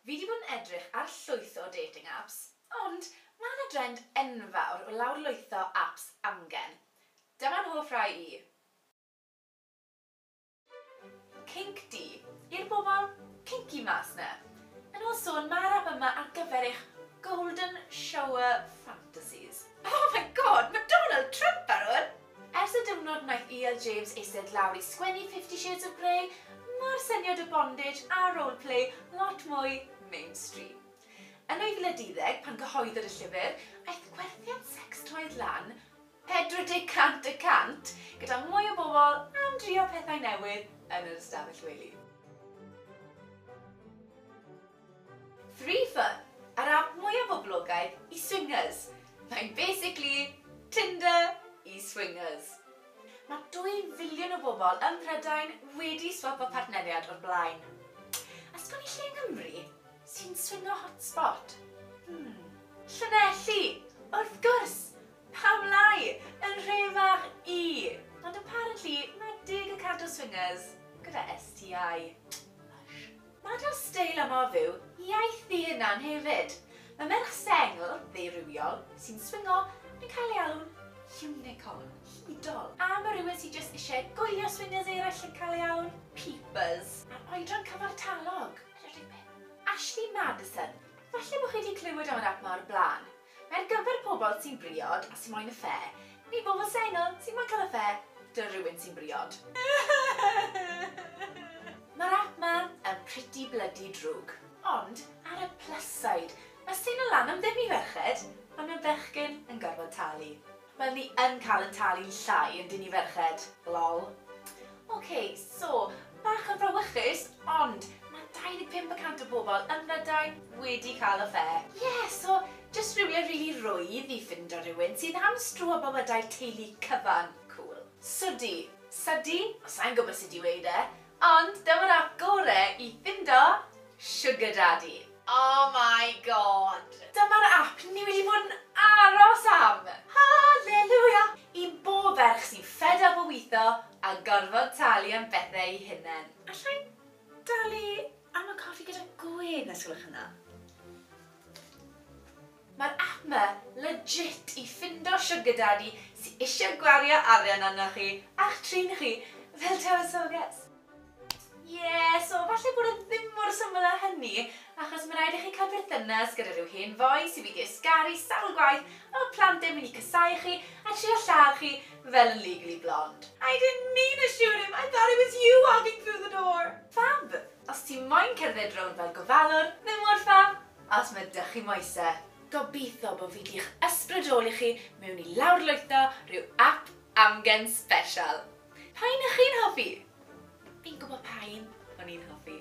Fi 'di bod yn edrych ar llwyth o dating apps, ond ma' 'na drend enfawr o lawrlwytho apps amgen. Dyma'n hoff rai i. Kinc du, i'r bobl kinky mas 'na. Yn ôl sôn ma'r app yma ar gyfer eich golden shower fantasies. Oh my God, ma Donald Trump ar 'wn! Ers y diwrnod wnaeth EL James eistedd lawr i sgwennu Fifty Shades of Grey, mae'r syniad o bondage a roleplay lot mwy mainstream. Yn 2010, pan gyhoeddwyd y llyfr, aeth gwerthiant secstoys lan 40 cant y cant, gyda mwy o bobl am drio pethau newydd yn yr ystafell wely. Free Fun, yr ap mwya boblogaidd i swingers. Mae'n basically Tinder i swingers. Mae dwy filiwn o bobl ym Mhrydain wedi swapo partneriad o'r blaen. A sgen i lle yng Nghymru sy'n swingo hotspot? Hmm. Llanelli! Wrth gwrs! Pam lai? Yn nhre fach i! Ond apparently mae deg y cant o swingers gyda STI. Hush. Mae dal steil a modd yw iaith ddu yn Nan hefyd. Mae merch sengl, ddeurywiol, sy'n swingo yn cael ei alw'n 'unicorn', hudol. A mae rhywun sydd jyst eisiau gwylio swingers eraill yn cael ei alw'n 'peepers'. A'r oedran cyfartalog, yn y rhifyn. Ashley Madison, falle bod chi wedi clywed am yr ap 'ma o'r blaen. Mae ar gyfer pobl sy'n briod a sy moyn y ffe, neu bobl sengl sy'n moyn cael y ffe 'da rywun sy'n briod. Mae'r app 'ma yn pretty bloody drwg. Ond, ar y plus side, mae seinl lan am ddim i ferched, ond mae bechgyn yn gorfod talu. Wel ni yn cael yn talu'n llai yndyn ni ferched? Lol. Ok, so, bach yn frawychus, ond ma 25 y cant o bobl ym Mhrydain wedi cael y ffe. Ie, so, jyst rhywle rili rwydd i ffindo rhywun sydd am stro a bywydau teulu cyfan. Cŵl. Sudi, Sudi? O, sai'n gwybod sut i weud e, ond dyma'r ap gore i ffindo Sugar Daddy. Oh my God! Dyma'r ap ni wedi bod yn aros am! Hallelujah! I bob ferch sy'n fed up o witho a gorfod talu am bethau eu hunain. Alla i dalu am y coffi gyda gwên, os gwelwch yn dda? Mae'r app ma legit i ffindo sugar daddy sy isio gwario arian arnoch chi a'ch trin chi fel tywysoges. Ie, so falle bod e ddim mor syml â hynny, achos mae'n rhaid i chi cael perthynas gyda rhyw hen foi sydd wedi ysgaru sawl gwaith a ma plant e'n mynd i casáu chi a trio lladd chi fel yn Legally Blonde. I didn't mean to shoot him, I thought it was you walking through the door! Fab! Os ti moyn cerdded rownd fel gofalwr, ddim mor fab, Os ma da chi moese, gobitho bo fi di'ch ysbrydoli chi mewn i lawrlwytho rhyw ap amgen sbeshal. Pa un ych chi'n hoffi? Fi'n gwbo pa un o'n i'n hoffi.